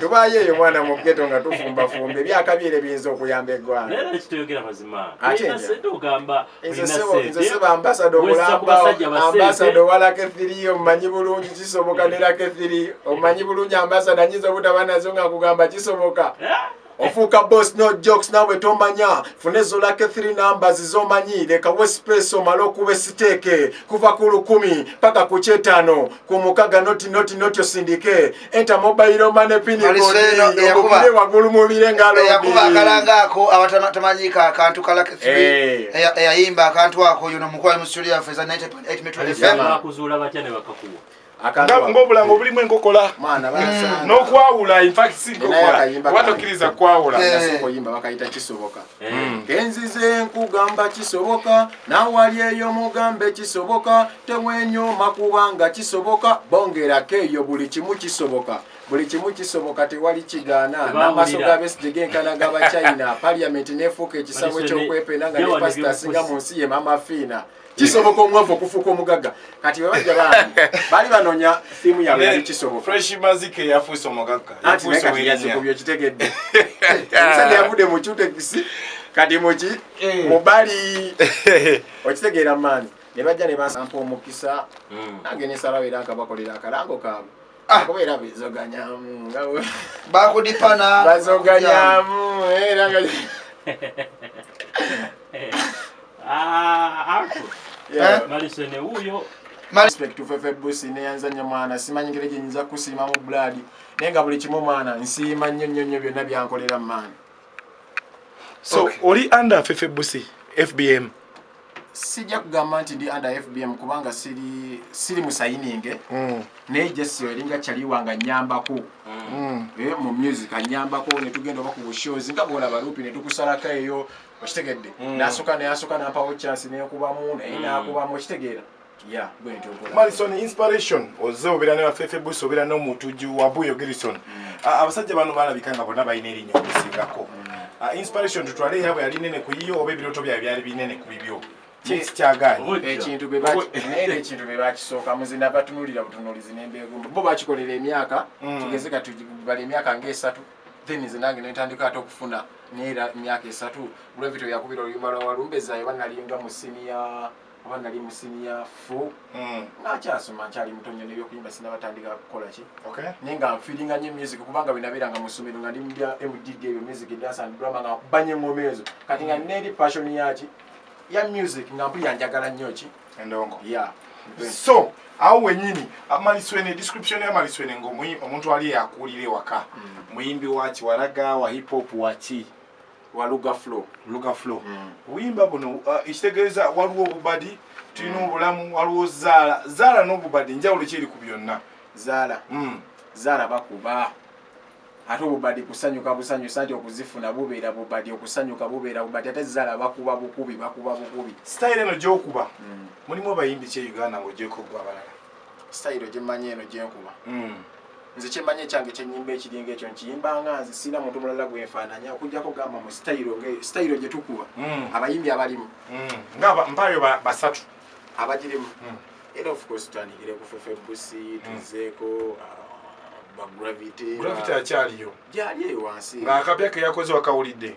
tubaayo eyo mwana mu geto nga tufumbafumba ebyakabyere biyinza okuyamba eggwangaambasada omulambaambasada owala kethiri omumanyi bulungi kisoboka nera kethiri omumanyi bulungi ambasada nyinza obutaba nazo nga nkugamba kisoboka eh? ofuuka boss no jokes nawe tomanya funa ezo lake 3 numbers zomanyi leka wespace omale okuba esiteeke kuva ku lukumi paka ku kyetaano ku mukaga noti noti noti osindike enta mobile mane pini kodiobukire wagulu mubire ngaloyakuba akalanga ako abatamanyika akantu ka lake 3 eh. eyayimba akantu ako yuno mukwali mu studio yaffe za 98 mitwe fm ng'obulango bulimu enkokola mm. n'okwawula infakisinkokola tokiriza kwawula eh. oyimba bakayita kisoboka eh. mm. kenzize nkugamba kisoboka nawali eyo mugambe kisoboka tewenyoma kubanga kisoboka bongerako eyo buli kimu kisoboka buli kimu kisoboka tewali kigaana n'amaaso ga besige genkana ga bachina paliamenti n'efuuka ekisabo eky'okwepena nga ne pasita asinga mu nsi ye mama fiina kisoboka omwavu okufuuka omugagga kati webajja bambi baali banoonya thiimu yabwe yali kisobokafreshmazike yafuuse omugagga yazikubye okitegedde omusajja yavudde mu cutekisi kati muki eh. mubali okitegeera maani ne bajja ne basampa omukisa hmm. nange nesalawo era nkabakolera akalango kaabwe Ah. kubeera bezoganyamu bakudipana bazoganyamu era nga ah, eh? malisene wuyo respect to fefe busi neyanzanya mwana simanyi ngeri gyenyinza kusiima mu buladi naye nga buli kimu mwana nsiima nnyo nnyo nnyo byonna byankolera maani so oli under fefe busi fbm sijja kugamba nti ndi under fbm kubanga siri siri musayininge mm. naye jesi eringa kyaliwa nga nyambako mm. eh, mu music anyambako netugenda oba ku bushows nga bwola balupi netukusalako eyo okitegedde mm. nasoka nayasoka nampawo chance nekubamu naye mm. nakubamu okitegeera Malison inspiration oze obera ne bafefe buso obera no mutuju wa buyo Gerson mm. abasajja bano balabika nga bona bayina erinyo kusingako mm. inspiration tutwale yabo yali nene kuyiyo obe biroto bya byali binene kubibyo ekintu ekintu bebakisooka muzina batunulira butunulizi nembeegumba bo bakikolera emyaka mm. tugeze kati bali emyaka ngaesatu then nze nange nentandika ate okufuna neera emyaka esatu gravity yakubira oluyumba lwa walumbezayo banaliyinga mu siniya kuba nali mu siniya fu hmm. nakyasoma nkyali mutonyo nebyokuyimba sinabatandika kukola ki naye nga nfiringa nyo music kubanga wenabeeranga mu ssomero nga ndi mubya mdd ebyo music dansa drama nga kubanya engoma ezo kati nga hmm. neri passion yaki ya music nga mpulira njagala nnyo ki endongo ya so awo wenyini amaliswene description ya maliswene nga omuntu ali yakuulira ewaka hmm. muyimbi waki walaga wa hip hop waki waluga flo luga flo mm. wimba buno uh, ekitegeeza waliwo obubadi tulina mm. obulamu waliwo zaala zaala n'obubadi njawulo kyeri ku byonna zaala mm. zaala bakuba ate obubadi kusanyuka busanyusa nti okuzifuna bubeera bubadi okusanyuka bubeera bubadi ate zaala bakuba bukubi bakuba bukubi sitayiro eno gyokuba mm. mulimu abayimbi kye uganda ngaogyeko gwe abalala sitayiro gye mmanyi eno gye nkuba hmm. nze kye mmanyi ekyange kye nnyimba ekiringa ekyo nkiyimba nga nze sirina muntu mulala gwe nfaananya okujjako gamba mu sitayiro sitayiro gye tukuba hmm. abayimbi abalimu hmm. nga mpaayo basatu abagirimu era of course tutandikire ku fefe busi tuzeeko ah, bagravity gravity akyaliyo gyali eyo wansi ng'akapya ke yakoze wakawulidde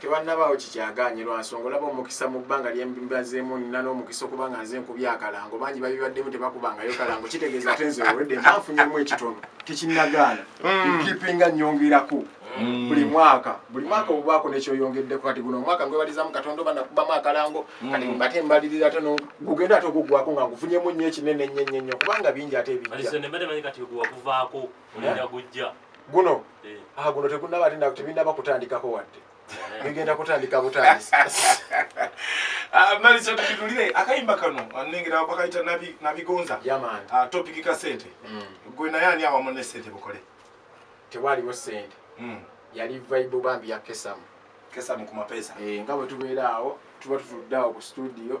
Tewannabaawo kikyagaanye lwa nsonga olaba omukisa mu bbanga lye mbazeemu nnina n'omukisa okuba nga nze nkubye akalango bangi babibaddemu tebakubangayo kalango kitegeeza ate nze owedde mba nfunyemu ekitono tekinnagaana nkipinga mm. nnyongerako mm. buli mwaka buli mwaka obubaako nekyoyongeddeko kati guno omwaka ngwebalizamu katonda oba nakubamu akalango mm. kati mbate mbalirira ate gugenda ate ogugwako nga ngufunyemu nnyo ekinene nnyo nnyo nnyo kubanga bingi ate ebijja guno eh. ah, guno tegunaba ate tebinaba kutandikako wadde eh. bigenda kutandika butandisa ah, maliso tukitulire akayimba kano nengera bakayita nabigonza ah, topiki ka sente mm. gwe naye ani awamu ne sente bukole tewaliwo sente mm. yali vaibu bambi yakesamu kesamu ku mapesa eh, nga bwe tubeera awo tuba tutudde awo ku studio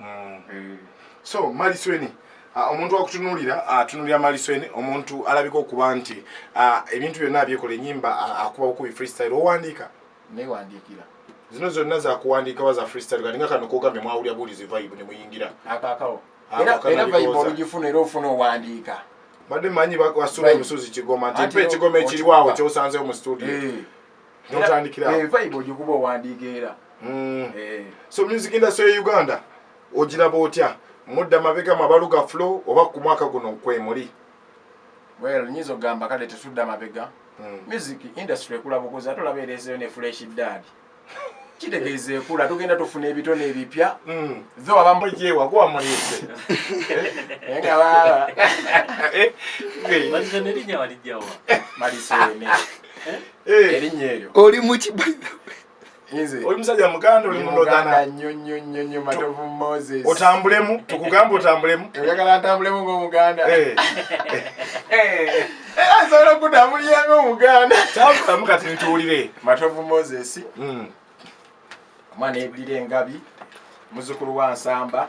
Mm. so malisweni ah, omuntu akutunulira atunulira ah, malisweni omuntu alabika okuba nti ah, ebintu byonna abyekola enyimba akubawo kubi freestyle owandiika newandiikira zino zonna zakuwandiika waza freestyle kati nga kano kogambye mwawulira buulizi vibe nemuyingira akakawo era vibe olugifuna era ofuna owandiika badde manyi basula obusuzi kigoma nti mpa ekigoma ekiriwawo kyosanzewo mu studio eh. notandikirae eh, vibe ogikuba owandiika era hmm. eh. so music industry ya uganda ogiraba otya mudda mabegamu abaluga flo oba ku mwaka guno nkwemuli well nyinza okugamba kale tetudda mabega hmm. music industry ekula bukuzi ate olaba ereeseyo ne fresh dad kitegeeza ekula tugenda tufuna ebitone ebipya hmm. tho abamujewa kuba muliise nga baba eh, eh, eh. maliseene erinnya eryo oli muki oli musajja muganda oli mulodana nyo nyo nyo nyo matovu moses otambulemu tukugamba otambulemu oyagala ntambulemu ng'omuganda asobola okutambulira ng'omuganda tambulamu kati ntuwulire matovu moses hmm. omwana ebulira engabi muzukulu wa nsamba